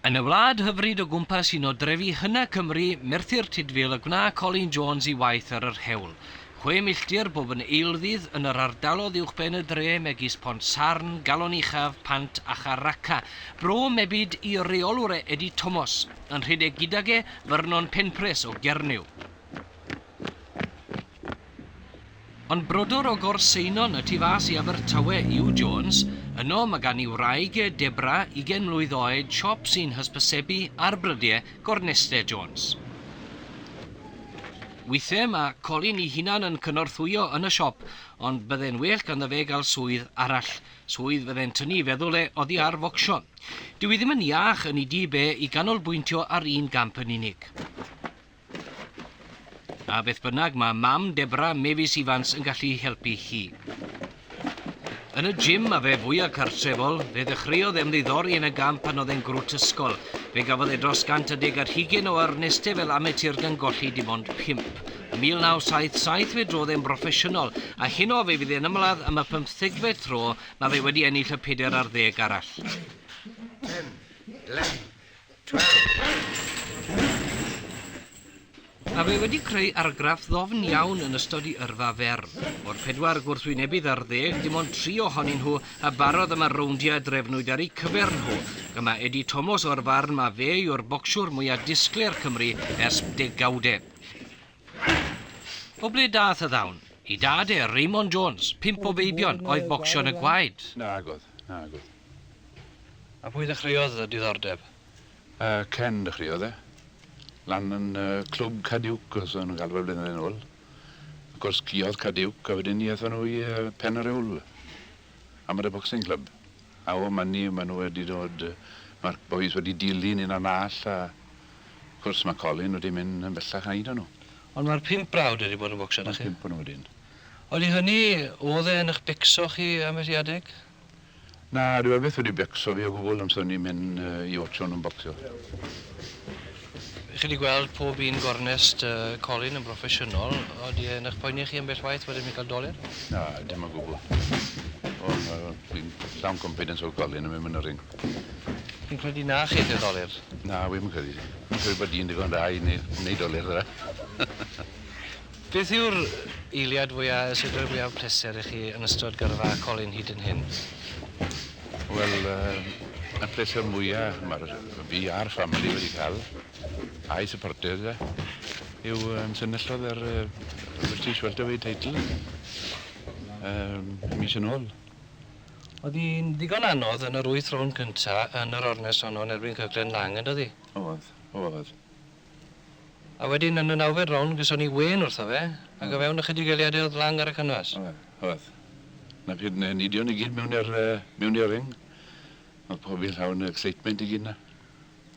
Yn y wlad hyfryd o gwmpas un o drefi hyna Cymru, Merthyr Tudful y gwna Colin Jones i waith ar yr hewl. Chwe milltir bob yn eilddydd yn yr ardalodd uwchben y dre megis Pont Sarn, Galon Uchaf, Pant a Char Raca. Bro mebyd i reolwr e Eddie Tomos. Yn rhedeg gydag e, Vernon Penpres o Gernyw. Ond brodor o Gorseinon y tu fas i Abertawe yw Jones, yno mae gan ei wraig e, Debra, ugain mlwydd oed, siop sy'n hysbysebu ar brydie Gorneste Jones. Weithiau mae Colin ei hunan yn cynorthwyo yn y siop, ond bydde'n well ganddo fe gael swydd arall, swydd fydde'n tynnu i feddwl e oddi ar focsio. Dyw hi ddim yn iach yn ei dŷ be i ganolbwyntio ar un gamp yn unig. A beth bynnag, mae mam Debra, Mefis Ifans, yn gallu helpu hi. Yn y gym a fe fwya cartrefol, fe ddechreuodd ymddiddori yn y gamp pan oedd e'n grwt ysgol. Fe gafodd e dros gant a deg ar hugain o ernestau fel amatur gan golli dim ond pump. Ym 1977 fe drodd e'n broffesiynol, a heno fe fydd e'n ymladd am y pymthegfed tro, mae fe wedi ennill y pedair ar ddeg arall. Pen, Len, A fe wedi creu argraff ddofn iawn yn ystod i yrfa fer. O'r pedwar gwrthwynebydd ar ddeg, dim ond tri ohonyn nhw a barodd am y rowndiau drefnwyd ar eu cyfer nhw, y mae Eddie Tomos o'r farn ma fe yw'r bocsiwr mwya disglair Cymru ers degawde. O ble dath y ddawn? I dad e, Raymond Jones, pump o feibion, oedd bocsio yn y gwaed. Nagodd, nagodd. A pwy ddechreuodd y diddordeb? Yy Ken ddechreuodd e. Lan yn yy clwb Caduke os o'n nhw'n galw fe blynydde nôl. Wrth gwrs sgïodd Caduke a wedyn 'ny athon nhw i yy Pen-yr-Ewl. Amateur Boxing Club. A o man 'ny ma' nhw wedi dod yy ma'r bois wedi dilyn un a nall a wrth gwrs ma' Colin wedi mynd yn bellach na un o nhw. Ond ma'r pump brawd wedi bod yn bocsio 'da chi? Ma'r pump o nhw wedyn. Ond i hynny, o'dd e yn 'ych becso chi ambell i adeg? Na, dyw e byth wedi becso fi o gwbl amser o'n i'n mynd i otsio nhw'n bocsio. Chi wedi gweld pob un gornest colin yn broffesiynol, odi e'n eich poeni chi ambell waith bod e'n mynd i gael doler? Na, dim o gwbl. Ond fi'n llawn confidence o'r colin yn mynd yn y ring. Chi'n credu na chi yw'r doler? Na, wi ddim yn credu. Fi'n credu bod di'n ddigon da i wneud doler, dda. Beth yw'r eiliad fwya', y sut roi fwyaf o pleser i chi yn ystod gyrfa colin hyd yn hyn? Wel, yy, y pleser mwya' ma'r fi a'r ffamili wedi ca'l, a'i syporters e, yw yym senyllodd yr yy y British Welterweight title yym mis yn ôl. O'dd 'i'n ddigon anodd yn yr wyth rownd cynta' yn yr ornest honno yn erbyn Kirkland Laing, yndodd 'i? O'dd, o'dd. A wedyn yn y nawfed rownd geson ni wên wrtho fe ac o fewn ychydig eiliade o'dd Lang ar y canfas. Oedd, oedd. Nac hyd yn henidion i gyd mewn i'r yy mewn i'r ring. O'dd pob un llawn yy excitement i gyd 'na.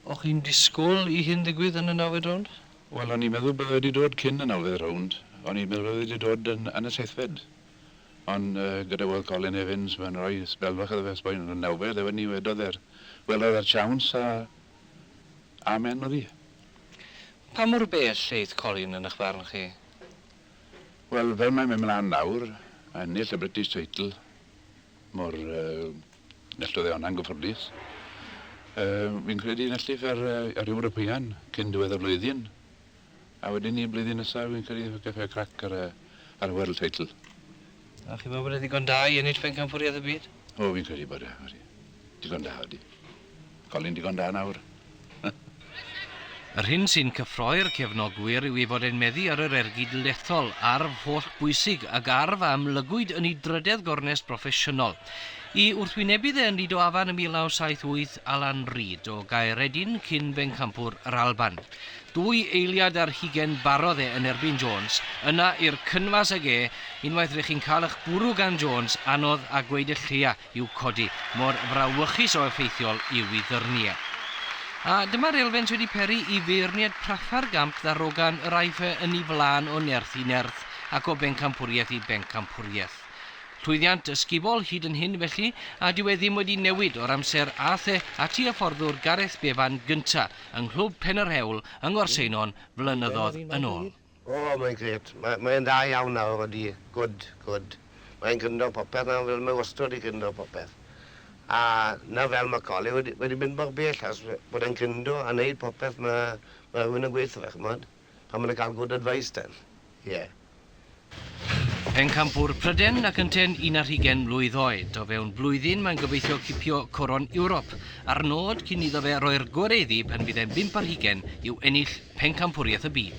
O'ch chi'n disgwl i hyn ddigwydd yn y nawfed rownd? Wel o'n i'n meddwl bydde wedi dod cyn y nawfed rownd. O'n i'n meddwl wedi dod yn yn y seithfed. Ond yy gyda weld Colin Evans ma'n roi sbel fach iddo fe ers bod yn y nawfed a wedyn 'ny wedodd e'r welodd e'r siawns a Amen Mari. Pa mor bell eith Colin yn ych barn chi? Wel, fel mae'n mynd mlaen nawr, ennill y British Title, mor neilltuodd e honna yn gyffyrddus. Fi'n credu neilltuff ar yr Ewropeaidd cyn diwedd y flwyddyn. A wedyn ni blwyddyn nesa fi'n credu efo Cafe Crac ar y ar y World Title. A chi'n meddwl bod e ddigon da i ennill Pencampwriaeth y Byd? O fi'n credu bod e, odi. Digon da odi. Colin digon da nawr. Yr hyn sy'n cyffroi'r cefnogwyr yw ei fod e'n meddu ar yr ergyd lethol, arf hollbwysig, ac arf a amlygwyd yn ei drydedd gornest broffesiynol. I wrthwynebydd e yn Lido Afan yn 1978, Alan Reid, o Gaeredin, cyn-bencampwr yr Alban. Dwy eiliad ar hugen barodd e yn erbyn Jones, yna i'r cynfas ag e, unwaith rych chi'n cael ych bwrw gan Jones, anodd a gweud y lleia i'w codi, mor frawychus o effeithiol yw i ddyrnu e. A dyma'r elfens wedi peri i feirniad prafa'r gamp ddarogan yr aiff e yn ei flaen o nerth i nerth ac o bencampwriaeth i bencampwriaeth. Llwyddiant ysgubol hyd yn hyn felly, a dyw e ddim wedi newid o'r amser a'th e ati a fforddwr Gareth Bevan gynta', yng Nghlwb Pen yr Hewl yng Ngorseinon flynyddodd yn ôl. O, mae'n grêt. Mae, mae e'n dda iawn nawr, odi. Gwd, gwd. Mae'n gryndo popeth nawr, fel mae wastod wedi gryndo popeth. A 'na fel mae Colin wedi, wedi mynd mor bell, achos bod e'n gryndo a wneud popeth mae, mae rhywun yn gweud 'tho fe, ch'mod. I'm gonna ga'l good advice then. Yeah. Pencampwr Pryden ac ynteu'n un ar hugain mlwydd oed. O fewn blwyddyn mae'n gobeithio cipio coron Ewrop, a'r nod cyn iddo fe roi'r gore iddi pan fydd e'n bump ar hugain yw ennill Pencampwriaeth y Byd.